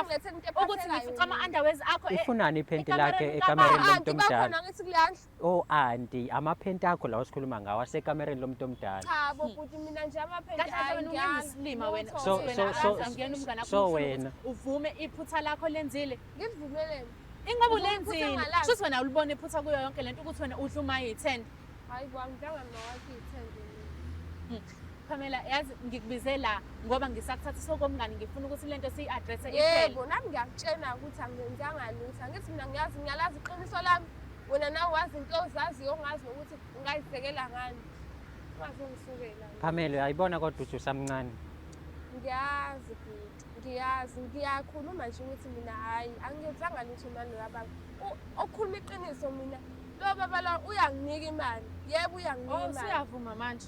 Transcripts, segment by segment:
ukuthi ngifica ama-underways akho eh, ifunani iphenti lakhe ekamereni lomuntu omdala o oh, anti amaphenti akho lawa sikhuluma ngawo asekamereni lomuntu omdala so wena uvume iphutha lakho lenzile ngivumeleni ingoba ulenzile shuthi wena ulibona iphutha kuyo yonke lento ukuthi wena udla umayithende hayi kwami njengamawakithende Pamela yazi ngikubize la ngoba ngisakuthatha sokomngani ngifuna ukuthi lento siyi-address yebo nami ngiyakutshena ukuthi angenzanga lutho angithi mina ngiyazi ngiyalazi iqiniso lami wena nawe wazi into ozaziyo ongazi nokuthi ungayibhekela ngani ungazi ungisukela Pamela uyayibona kodwa uthi usamncane ngiyazi bhuti ngiyazi ngiyakhuluma nje ukuthi mina hhayi angiyenzanga lutho mani lababa okhuluma iqiniso mina lo baba lo uyanginika imali yebo uyanginika oh, imali usuyavuma manje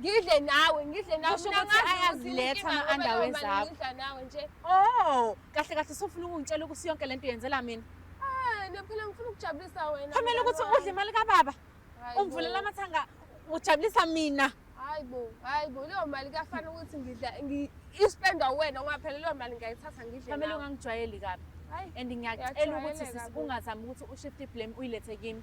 ngidle nawe ngidle nawe Kusho mina ukuthi ngazi ayaziletha inkinga ama-underwear ngoba noma zakho. ngidla nawe nje Oh, kahle kahle sofuna ukungitshela ukuthi yonke lento yenzela mina. Ah, no phela ngifuna ukujabulisa wena Khomela ukuthi mngani udle imali kababa, wami. ungivulela Hayibo, amathanga, ujabulisa mina. hayibo hayibo leyo mali kuyafana ukuthi ngidla ngi- ispendwa wena ngoba phela leyo mali ngiyayithatha ngidle Khomela nawe. ungangijwayeli kabi. Hayi, And ngiyacela ukuthi Uyajwayeleka sisi bo. ungazami ukuthi ushift blame uyilethe kimi.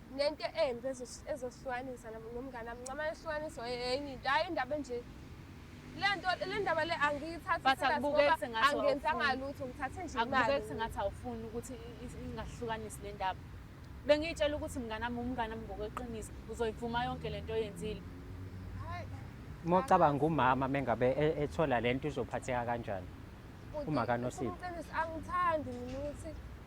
nento embi ezosihlukanisa nomngane wami nxa mane sihlukaniswa enye into hhayi indaba enje le nto le ndaba le angiyithathiangenzanga lutho ngithathe nje imali sengathi awufuni ukuthi ingahlukanisi le ndaba bengiyitshela ukuthi mngane wami umngane wami ngokweqiniso uzoyivuma yonke le nto oyenzile mocabanga umama mengabe e-, ethola le nto uzophatheka kanjani uma kanosile angithandi mina ukuthi